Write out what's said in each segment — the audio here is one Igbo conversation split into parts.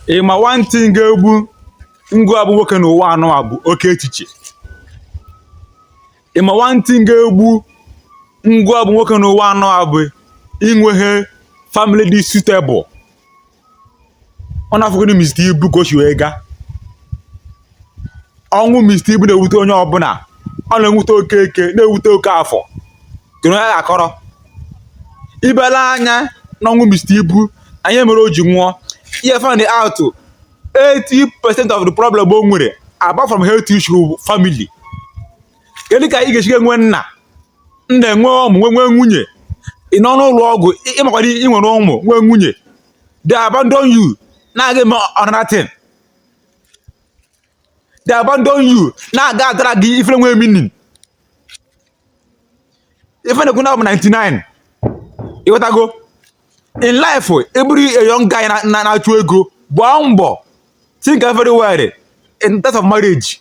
ị ma one thing ga-egbu ngụ abụ nwoke n'ụwa a nọ a bụ oke echiche ị ma one thing ga-egbu ngụ abụ nwoke n'ụwa a nọ a bụ inweghị family dị suitable ọ na-afụgodi Mr. Ibu ka o si wee gaa ọnwụ Mr. Ibu na-ewute onye ọbụla ọ na-ewute Okeke na-ewute Okafọ kedu onye a ga-akọrọ ị bịa lee anya n'ọnwụ Mr. Ibu na ihe mere o ji nwụọ ị ya find out 80 percent of the problem o nwere apart from health issue family kedu ka ị ga-esi enwe nna nna enwe ụmụ nwe nwee nwunye ị nọ n'ụlọ ọgwụ ị makwa na ị nwere ụmụ nwee nwunye they abandon you na-aga eme another thing they abandon you na-aga a-drag ife na-enweghị meaning ife na-ekwu na ọ bụ 99 ịghọtago in life ị bụrụ a young guy na-achụ ego gbaa mbọ think very well in terms of marriage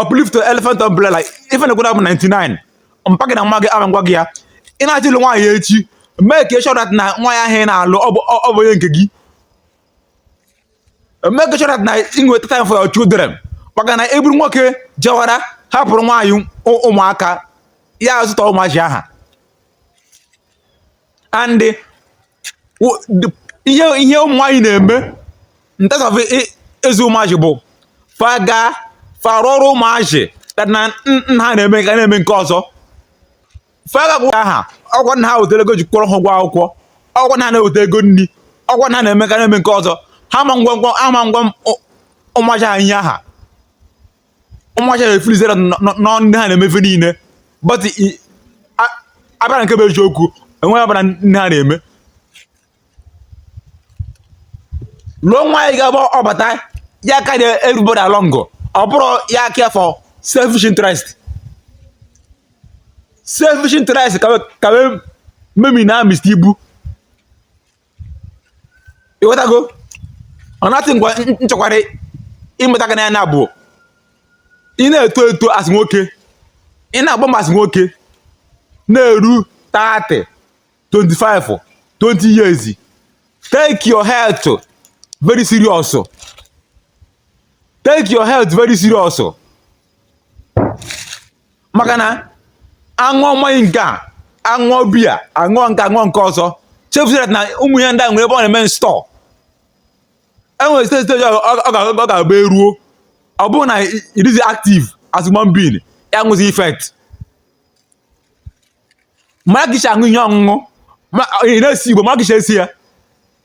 uplift elephant umbrella ife na gwada bụ 99 mpa gị na mma gị ama ngwa gị ya ị na-achọ ịlụ nwaanyị echi make sure that na nwaanyị ahụ ị na-alụ ọ bụ ọ bụ onye nke gị make sure that na ị nweta time for your children maka na ị bụrụ nwoke jewara hapụrụ nwaanyị ụ- ụmụaka ya azụta ụmụazị aha and eh, ihe ihe ụmụ nwaanyị na-eme in terms of ịzụ ụmụazị bụ fa ga farụ ọrụ ụmụazị na nna ha na-eme nke a na-eme nke ọzọ fa aga agwa ha ọkwa nna ha wetara ego ji kwụọrọ ha ụgwọ akwụkwọ ọkwa nna ha na-eweta ego nri ọkwa nna ha na-eme nke a na-eme nke ọzọ ha ama ngwa ụmụazị ha ihe aha ụmụazị a na-efeelzi na ọ nne ha na-eme ife niile but abịara nke bụ eziokwu enweghị ọbụla nne ha na-eme lụọ nwaanyị ga-abụ ọ bata ya carry everybody along ọ bụrọ ya care for selfish interest selfish interest ka wee memina Mr. Ibu ịghọtago another thing kwa m chọkwara ịmụta gị n'anya bụ ị na-eto eto as nwoke ị na-agba mbọ as nwoke na-eru 30 25 20 years take your health very serious take your health very serious maka na aṅụọ mmanya nke a aṅụọ biya aṅụọ nke a aṅụọ nke ọzọ chefuzie that na ụmụ ihe ndị a nwere ebe ọ na-eme store enwere stage stage ọ ga-abụ e ruo ọ bụrụ na ị dịzi active as human being ya nwezi effect mara ka i si aṅụ ihe ọṅụṅụ ị na-ese igbo mara ka i si ese ya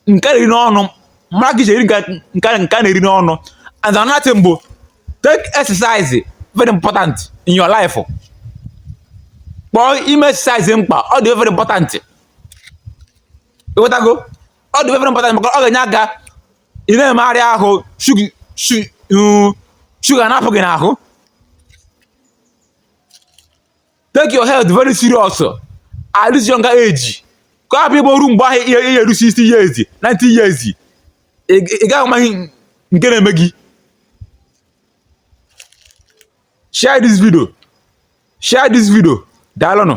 nke na-eri n'ọnụ mara ka i si eri nke a na-eri n'ọnụ and another thing bụ take exercise very important in your life kpọọ ime exercise mkpa ọ dị very important ịghọtago ọ dị very important maka ọ ga-enye aka ị na-emegharị ahụ shuga na-apụ gị n'ahụ take your health very serious at this younger age ka ọ hapụ ịbụ o ruo mgbe ahụ ị ya-eru 60 years 90 years ị ị gaghị ama ihe nke na-eme gị share this video share this video daalụnụ